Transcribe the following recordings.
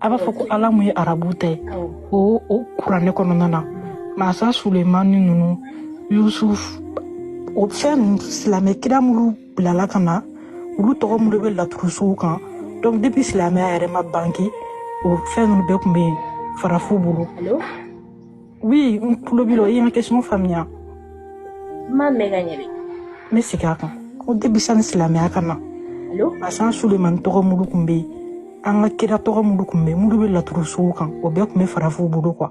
a b'a fɔ ko ala mun ye arabu ta ye o o kuranɛ kɔnɔna na masa sulemani ninnu yusuf o fɛn ninnu silamɛ kira minnu bilala ka na olu tɔgɔ minnu bɛ laturusow kan donc depuis silamɛya yɛrɛ ma bange o fɛn ninnu bɛɛ tun bɛ farafinw bolo Oui, n tulo b'i la, i ye n ka question faamuya. N m'a mɛn ka ɲɛ dɛ. N bɛ segin a kan. Ko depuis sani silamɛya ka na, Masa Sulemani tɔgɔ mulu tun bɛ yen. An ka kira tɔgɔ mulu tun bɛ yen. Mulu bɛ laturusow kan. O bɛɛ tun bɛ farafinw bolo quoi.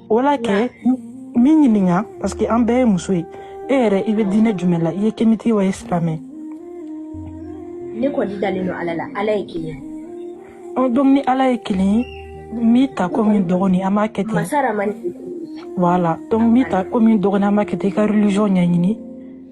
o la kɛ n b'i ɲininka parce que an bɛɛ ye muso ye e yɛrɛ i bɛ diinɛ jumɛn la i ye kemiti wa i ye silamɛ ne kɔni dalen don ala la ala ye kelen ɔ donc ni ala ye kelen ye n b'i ta komi dɔgɔnin an b'a kɛ ten masa ramani voilà donc n b'i ta komi dɔgɔnin an b'a kɛ ten i ka religion ɲɛɲini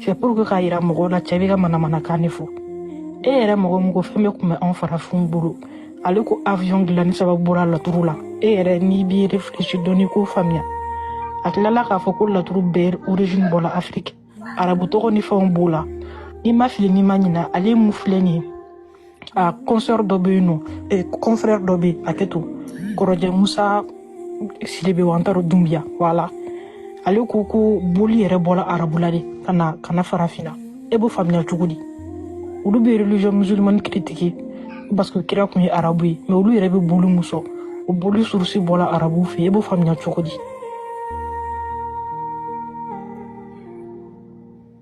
C'est pour que k'a yira mɔgɔw la cɛ bɛ ka manamanakan de fɔ e yɛrɛ mɔgɔ min ko fɛn bɛɛ tun bɛ anw farafinw bolo ale ko avion dilanni sababu bɔra laturu la e yɛrɛ n'i b'i réfléchi dɔɔni k'o faamuya a tilala k'a fɔ ko laturu bɛɛ origine bɔla afiriki arabu tɔgɔ ni fɛnw b'o la n'i ma fili n'i ma ɲina ale mun filɛ nin ye a consœur dɔ bɛ yen non eh, confrère dɔ bɛ yen a kɛtɔ kɔrɔjɛ musa sidibe wa n t'a dɔn dunbiya voilà ale ko ko boli yɛrɛ bɔra arabula de ka na farafinna e b'o faamuya cogo di olu bɛ religion musulmane critique parce que kira tun ye arabu ye mais olu yɛrɛ bɛ boli mun sɔn o boli source bɔra arabuw fɛ e b'o faamuya cogo di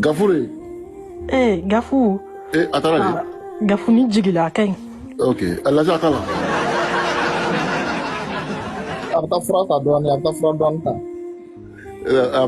gafu de ee gafu ee a taara de ah, gafu ni jigila a ka ɲi ok a lajɛ a ka la a bɛ taa fura ta dɔɔni a bɛ taa fura dɔɔni ta